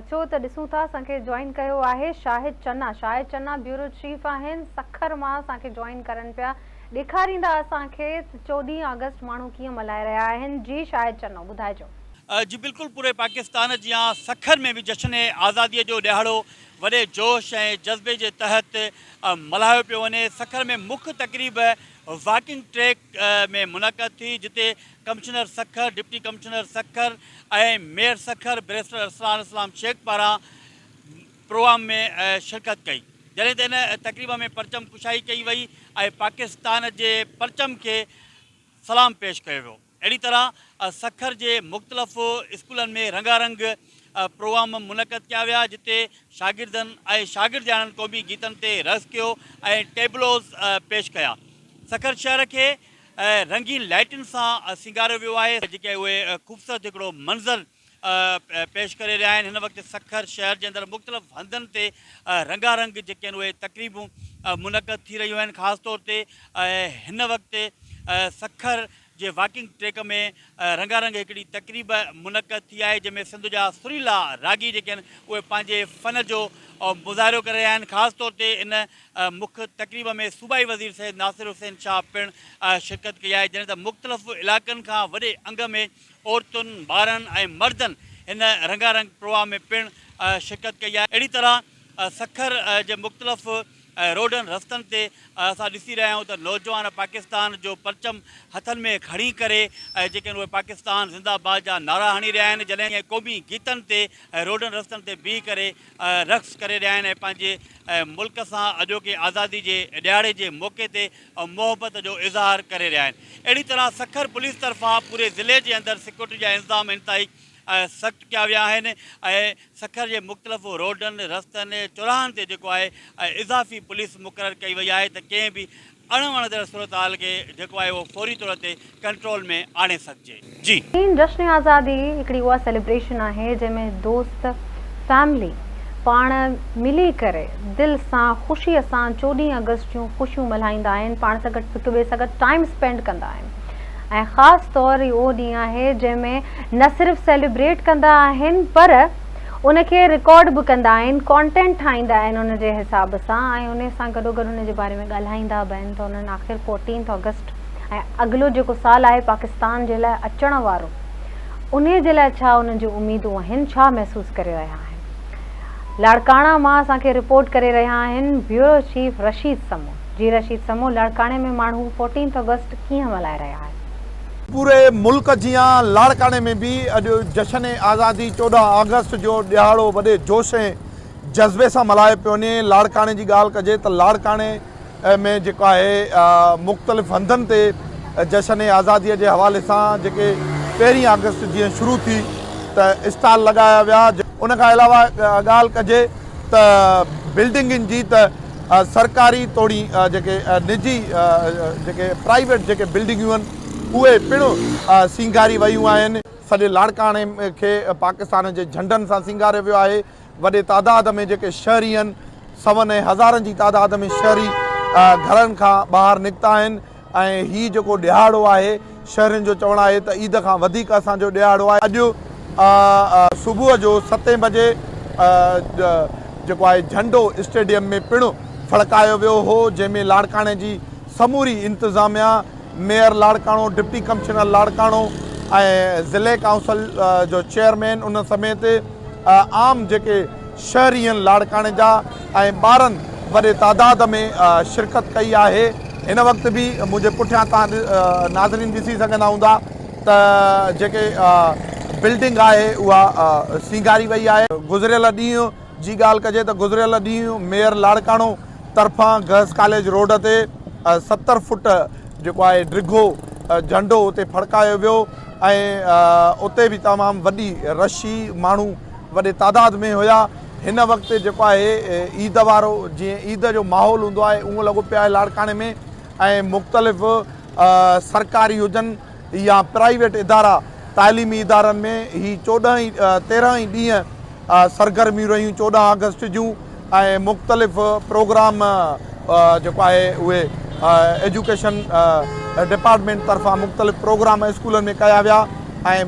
اچو ته ڏسون ٿا اسان کي جوائن ڪيو آهي شاهد چنا شاهد چنا بيورو چيف آهن سکر مان اسان کي جوائن ڪرن پيا ڏيکاريندا اسان کي ته چوڏهين آگسٽ ماڻهو ڪيئن ملهائي رهيا آهن جي شاهد چنو ٻڌائجو. جي بلڪل پوري پاڪستان جيان سکر ۾ به جشن آزادي جو ڏهاڙو وڏي جوش ۽ جذبي جي تحت ملهايو پيو وڃي سکر ۾ مک تقريب واڪنگ ٽريڪ ۾ منعقد ٿي جتي commissioner Sukkur, deputy commissioner Sukkur ۽ mayor Sukkur barrister Arsalan Islam Shaikh پاران پروام ۾ شرڪت ڪئي جڏهن ته ان تقريب ۾ پرچم ڪشائي ڪئي وئي ۽ پاڪستان جي پرچم کي سلام پيش ڪيو ويو اهڙي طرح سکر جي مختلف اسڪولن ۾ رنگا رنگ پروام منعقد ڪيا ويا جتي شاگردن ۽ شاگردياڻن قومي گيتن تي رقص ڪيو ۽ ٽيبلوز پيش ڪيا سکر شهر کي ۽ رنگين لائيٽن سان سينگاريو ويو آهي جيڪي اهي خوبصورت هڪڙو منظر پيش ڪري رهيا آهن هن وقت سکر شهر جي اندر مختلف هنڌن تي رنگا رنگ جيڪي آهن اهي تقريبون منعقد ٿي رهيون آهن خاص طور تي هن وقت سکر جي واڪنگ ٽريڪ ۾ رنگا رنگ هڪڙي تقريب منعقد ٿي آهي جنهن ۾ سنڌ جا سريلا راڳي جيڪي آهن اهي پنهنجي فن جو مظاهرو ڪري رهيا آهن خاص طور تي ان مک تقريب ۾ صوبائي وزير سيد ناصر حسين شاهه پڻ شرڪت ڪئي آهي جڏهن ته مختلف علائقن کان وڏي انگ ۾ عورتن، ٻارڙن ۽ مردن هن رنگا رنگ پرواه ۾ پڻ شرڪت ڪئي آهي. اهڙي طرح سکر جي مختلف روڊن رستن تي اسان ڏسي رهيا آهيون ته نوجوان پاڪستان جو پرچم هٿن ۾ کڻي ڪري جيڪي آهن اهي پاڪستان زنده باد جا نعرا هڻي رهيا آهن جڏهن ته قومي گيتن تي روڊن رستن تي بيهي ڪري رقص ڪري رهيا آهن ۽ پنهنجي ملڪ سان اڄوڪي آزادي جي ڏهاڙي جي موقعي تي محبت جو اظهار ڪري رهيا آهن اهڙي طرح سکر پوليس طرفان پوري ضلعي جي اندر سيڪيورٽي جا انتظام انتهائي سخت ڪيا ويا آهن ۽ سکر جي مختلف روڊن رستن چوراهن تي جيڪو آهي اضافي پوليس مقرر ڪئي وئي آهي ته ڪنهن به اڻ وڻندڙ صورتحال کي جيڪو آهي اهو فوري طور تي ڪنٽرول ۾ آڻي سگهجي. جي. سين جشن آزادي هڪڙي اها سيليبريشن آهي جنهن ۾ دوست فيملي پاڻ ملي ڪري دل سان خوشي سان چوڏهين آگسٽ جون خوشيون ملهائيندا آهن پاڻ سان گڏ هڪ ٻئي سان گڏ ٽائيم اسپينڊ ڪندا آهن ۽ خاص طور هي اهو ڏينهن آهي جنهن ۾ نه صرف سيليبريٽ ڪندا آهن پر ان کي رڪارڊ به ڪندا آهن، ڪانٽينٽ ٺاهيندا آهن ان جي حساب سان ۽ انهي سان گڏوگڏ ان جي باري ۾ ڳالهائيندا به آهن ته انهن آخر فورٽينٿ آگسٽ ۽ اڳلو جيڪو سال آهي پاڪستان جي لاء اچڻ وارو انهي جي لاء ڇا انهن جون اميدون آهن ڇا محسوس ڪري رهيا آهن لاڙڪاڻا مان اسان کي رپورٽ ڪري رهيا آهن بيورو چيف رشيد سمون جي رشيد سمون لاڙڪاڻي ۾ ماڻهو فورٽينٿ آگسٽ ڪيئن ملهائي رهيا آهن. پوري ملڪ جيان لاڙڪاڻي ۾ به اڄ جشن آزادي چوڏهن آگسٽ جو ڏهاڙو وڏي جوش ۽ جذبي سان ملهايو پيو وڃي لاڙڪاڻي جي ڳالهه ڪجي ته لاڙڪاڻي ۾ جيڪو آهي مختلف هنڌن تي جشن آزادي جي حوالي سان جيڪي پهرين آگسٽ جيئن شروع ٿي ته اسٽال لڳايا ويا ان کان علاوه ڳالهه ڪجي ته بلڊنگن جي ته سرڪاري توڻي جيڪي نجي جيڪي پرائيويٽ جيڪي بلڊنگيون آهن اهي پڻ سينگاري ويون آهن. سڄي لاڙڪاڻي کي پاڪستان جي جهنڊن سان سينگاريو ويو آهي. وڏي تعداد ۾ جيڪي شهري آهن سون ۽ هزارن جي تعداد ۾ شهري گهرن کان ٻاهر نڪتا آهن ۽ هي جيڪو ڏهاڙو آهي شهرين جو چوڻ آهي ته عيد کان وڌيڪ اسان جو ڏهاڙو آهي اڄ صبح جو ستين بجي جيڪو آهي جهنڊو اسٽيڊيم ۾ پڻ ڦڙڪايو ويو هو جنهن ۾ لاڙڪاڻي جي سموري انتظاميا mayor Larkana deputy commissioner Larkana ۽ ضلعي ڪائونسل جو چيئرمين ان سميت عام جيڪي شهرين لاڙڪاڻي جا ۽ ٻارن وڏي تعداد ۾ شرڪت ڪئي آهي هن وقت به منهنجي پٺيان توهان ناظرين ڏسي سگهندا هوندا ته جيڪي بلڊنگ آهي اها سينگاري وئي آهي. گذريل ڏينهن جي ڳالهه ڪجي ته گذريل ڏينهن ميئر لاڙڪاڻو طرفان گرلس ڪاليج روڊ تي ستر فوٽ جيڪو آهي ڊگهو جهنڊو اتي ڦڙڪايو ويو ۽ اتي به تمام وڏي رشي ماڻهو وڏي تعداد ۾ هيا هن وقت جيڪو آهي عيد وارو جيئن عيد جو ماحول هوندو آهي اهو لڳو پيو آهي لاڙڪاڻي ۾ ۽ مختلف سرڪاري هجن يا پرائيويٽ ادارا تعليمي ادارن ۾ هي چوڏهن تيرهن ئي ڏينهن سرگرميون رهيون چوڏهن آگسٽ جون ۽ مختلف پروگرام جيڪو آهي اهي ايجوڪيشن ڊپارٽمينٽ طرفان مختلف پروگرام اسڪولن ۾ ڪيا ويا ۽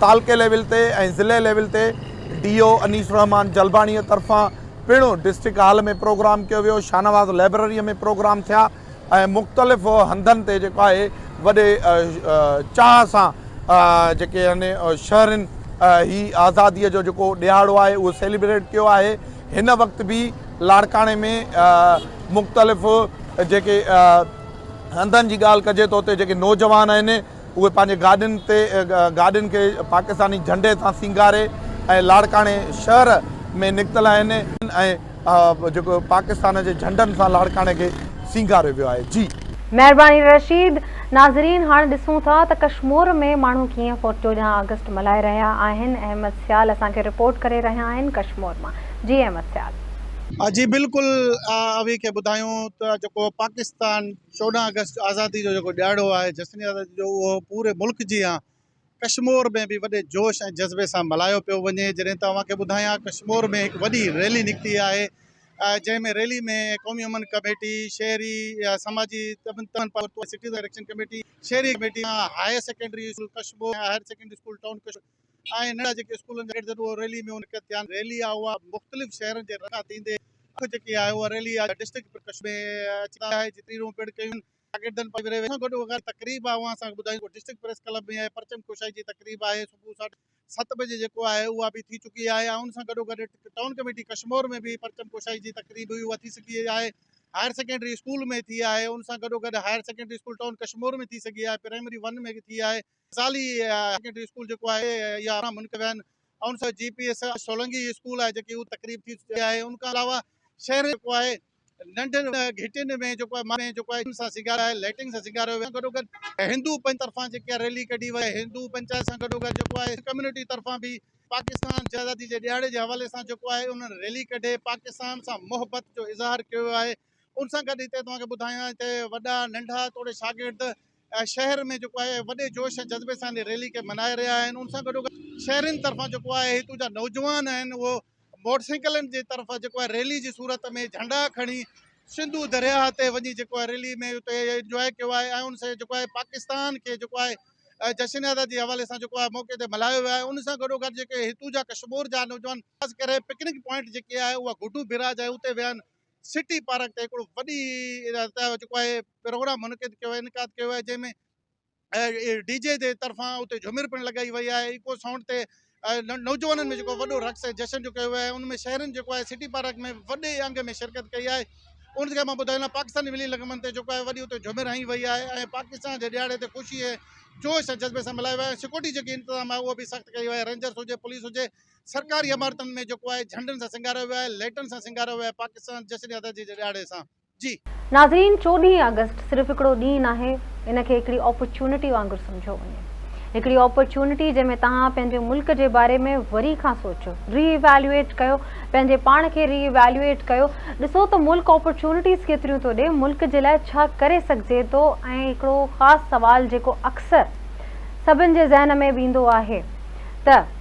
تعلقي ليول تي ۽ ضلعي ليول تي ڊي او انيس الرحمان جلباڻي طرفان پڻ ڊسٽرڪٽ هال ۾ پروگرام ڪيو ويو شاهنواز لائبرري ۾ پروگرام ٿيا ۽ مختلف هنڌن تي جيڪو آهي وڏي چاهه سان جيڪي آهن شهرين هي آزادي جو جيڪو ڏهاڙو آهي اهو سيليبريٽ ڪيو آهي هن وقت به لاڙڪاڻي ۾ مختلف جيڪي هنڌن جي ڳالهه ڪجي ته اتي جيڪي نوجوان آهن اهي پنهنجي گاڏين تي گاڏين کي پاڪستاني جهنڊي سان سينگاري ۽ لاڙڪاڻي شهر ۾ نڪتل آهن ۽ جيڪو پاڪستان جي جهنڊن سان لاڙڪاڻي کي سينگاريو ويو آهي جي. مهرباني رشيد. ناظرين هاڻ ڏسون ٿا ته ڪشمور ۾ ماڻهو ڪيئن فوٽ چوڏهن آگسٽ ملهائي رهيا آهن احمد سيال اسان کي رپورٽ ڪري رهيا آهن ڪشمور مان جي احمد سيال. جي بلڪل اوهين کي ٻڌايون ته جيڪو پاڪستان. چوڏهن آگسٽ آزادي جو جيڪو ڏهاڙو آهي جشن آزادي جو اهو پوري ملڪ جيان ڪشمور ۾ به وڏي جوش ۽ جذبي سان ملهايو پيو وڃي جڏهن ته اوهان کي ٻڌايان ڪشمور ۾ هڪ وڏي ريلي نڪتي آهي جنهن ۾ ريلي ۾ قومي امن ڪميٽي شهري سماجي تنظيمن پاران سٽيزن ايڪشن ڪميٽي شهري committee higher secondary school Kashmore ۽ higher secondary school town Kashmore آهن ننڍڙا جيڪي اسڪولن جا گيٽ اهو ريلي ۾ شرڪت ٿيا ريلي آهي اها مختلف شهرن جي رخ ٿيندي اک جيڪي آهي اها ريلي آهي ڊسٽرڪٽ پرڪشن ۾ اچي آهي جي تقريرون پڻ ڪيون شاگردن پاران وري سان گڏ اها تقريب آهي اها اسان کي ٻڌايون ڊسٽرڪٽ پريس ڪلب ۾ آهي پرچم ڪشائي جي تقريب آهي صبح ساڍي ست بجي جيڪو آهي اها به ٿي چڪي آهي ۽ ان سان گڏو گڏ ٽائون ڪميٽي ڪشمور ۾ به پرچم ڪشائي جي تقريب هئي اها ٿي سگهي آهي هائر سيڪنڊري اسڪول ۾ ٿي آهي ان سان گڏو گڏ higher secondary school town Kashmore ۾ ٿي سگهي آهي پرائمري ون ۾ به ٿي آهي زالي هاير سيڪنڊري اسڪول جيڪو آهي اها ارڙهن منڪ ويا آهن ۽ ان سان G P S Solangi school آهي جيڪي اهو تقريب ٿي چڪي آهي ان کان علاوه شهر جيڪو آهي ننڍن گهٽين ۾ جيڪو آهي ماڻهن جيڪو آهي سان سينگار آهي لائٽنگ سان سينگار ويو گڏو گڏ هندو پنچ طرفان جيڪي ريلي ڪڍي وئي هندو پنچائت سان گڏو گڏ جيڪو آهي ڪميونٽي طرفان به پاڪستان جي آزادي جي ڏهاڙي جي حوالي سان جيڪو آهي انهن ريلي ڪڍي پاڪستان سان محبت جو اظهار ڪيو ويو آهي ان سان گڏ هتي توهان کي ٻڌايان ته وڏا ننڍا توڙي شاگرد شهر ۾ جيڪو آهي وڏي جوش ۽ جذبي سان ريلي کي منائي رهيا آهن ان سان گڏو گڏ شهرين طرفان جيڪو آهي هتون جا نوجوان آهن اهو موٽر سائيڪلن جي طرف جيڪو آهي ريلي جي صورت ۾ جهنڊا کڻي سنڌو درياهه تي وڃي جيڪو آهي ريلي ۾ اتي انجوائي ڪيو آهي ۽ ان سان جيڪو آهي پاڪستان کي جيڪو آهي جشن آزادي جي حوالي سان جيڪو آهي موقعي تي ملهايو ويو آهي ان سان گڏو گڏ جيڪي هتون جا ڪشمور جا نوجوان خاص ڪري پڪنڪ پوائنٽ جيڪي آهي اها گڊو بئراج آهي اتي ويا آهن سٽي پارڪ تي هڪڙو وڏي تيار چڪو آهي پروگرام منعقد ڪيو انعقاد ڪيو آهي جنهن ۾ ڊي جي جي طرفان اتي جھومر پڻ لڳائي وئي آهي ايڪو سائونڊ تي نوجوانن ۾ جيڪو وڏو رقص ۽ جشن جو ڪيو ويو آهي ان ۾ شهرين جيڪو آهي سٽي پارڪ ۾ وڏي انگ ۾ شرڪت ڪئي آهي ان کي مان ٻڌايان لاء پاڪستاني ولي لگمن تي جيڪو آهي وڏي اتي جھومر هنئي وئي آهي ۽ پاڪستان جي ڏياڙي تي خوشي ۽ جوش ۽ جذبي سان ملهايو ويو آهي سيڪورٽي جيڪي انتظام آهي اهو به سخت ڪئي وئي آهي رينجرس هجي پوليس هجي سرڪاري عمارتن ۾ جيڪو آهي جهنڊن سان سينگاريو ويو آهي، ليٽن سان سينگاريو ويو آهي، پاڪستان جشن آزادي جي ڏهاڙي سان. جي. ناظرين چوڏهين آگسٽ صرف هڪڙو ڏينهن ناهي ان کي هڪڙي اپرچونٽي وانگر سمجهيو وڃي هڪڙي اپرچونٽي جنهن ۾ توهان پنهنجي ملڪ جي باري ۾ وري کان سوچيو ري ايويلوئيٽ ڪيو پنهنجي پاڻ کي ري ايويلوئيٽ ڪيو ڏسو ته ملڪ اپرچونٽيز ڪيتريون ٿو ڏي ملڪ جي لاء ڇا ڪري سگهجي ٿو ۽ هڪڙو خاص سوال جيڪو اڪثر سڀن جي ذهن ۾ به ايندو آهي ته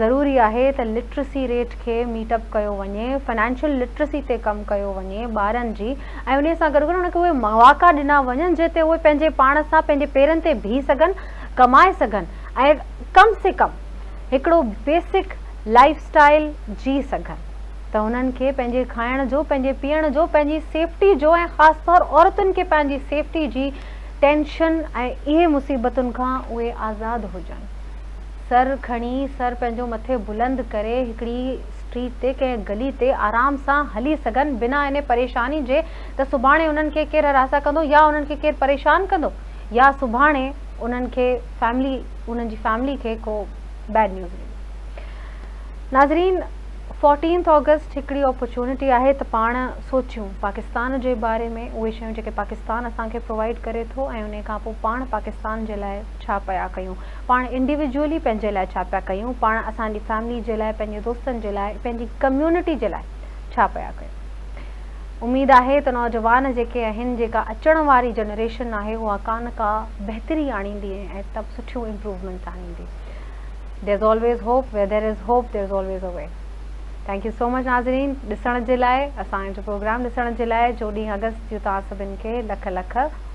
ضروري آهي ته لٽرسي ريٽ کي ميٽ اپ ڪيو وڃي فنانشل لٽرسي تي ڪم ڪيو وڃي ٻارن جي ۽ انهي سان گڏ گڏ انهن کي اهي مواقع ڏنا وڃن جنهن تي اهي پنهنجي پاڻ سان پنهنجي پيرن تي بيهي سگهن ڪمائي سگهن ۽ ڪم سي ڪم هڪڙو بيسڪ لائيف اسٽائيل جي سگهن ته انهن کي پنهنجي کائڻ جو پنهنجي پيئڻ جو پنهنجي سيفٽي جو ۽ خاص طور عورتن کي پنهنجي سيفٽي جي ٽينشن ۽ اهي مصيبتن کان اهي آزاد هجن. سر کڻي، سر پنهنجو مٿي بلند ڪري هڪڙي اسٽريٽ تي ڪنهن گلي تي آرام سان هلي سگهن بنا انهي پريشاني جي ته سڀاڻي انهن کي ڪير هراسان ڪندو يا انهن کي ڪير پريشان ڪندو يا سڀاڻي انهن کي فيملي انهن جي فيملي کي ڪو بيڊ نيوز ملي. ناظرين فورٽينٿ آگسٽ هڪڙي اپرچونٽي آهي ته پاڻ سوچيون پاڪستان جي باري ۾ اهي شيون جيڪي پاڪستان اسان کي پرووائيڊ ڪري ٿو ۽ انهي کانپوء پاڻ پاڪستان جي لاء ڇا پيا ڪيون پاڻ انڊيويجوئلي پنهنجي لاء ڇا پيا ڪيون، پاڻ اسان جي فيملي جي لاء، پنهنجي دوستن جي لاء، پنهنجي ڪميونٽي جي لاء ڇا پيا ڪيون. اميد آهي ته نوجوان جيڪي آهن، جيڪا اچڻ واري جنريشن آهي اها ڪا نه ڪا بهتري آڻيندي ۽ ۽ سٺيون امپروومينٽس آڻيندي. There's always hope where there is hope there's always a way Thank you so much ناظرين ڏسڻ جي لاء اسان جو پروگرام ڏسڻ جي لاء چوڏهين آگسٽ جون توهان سڀن کي لک لک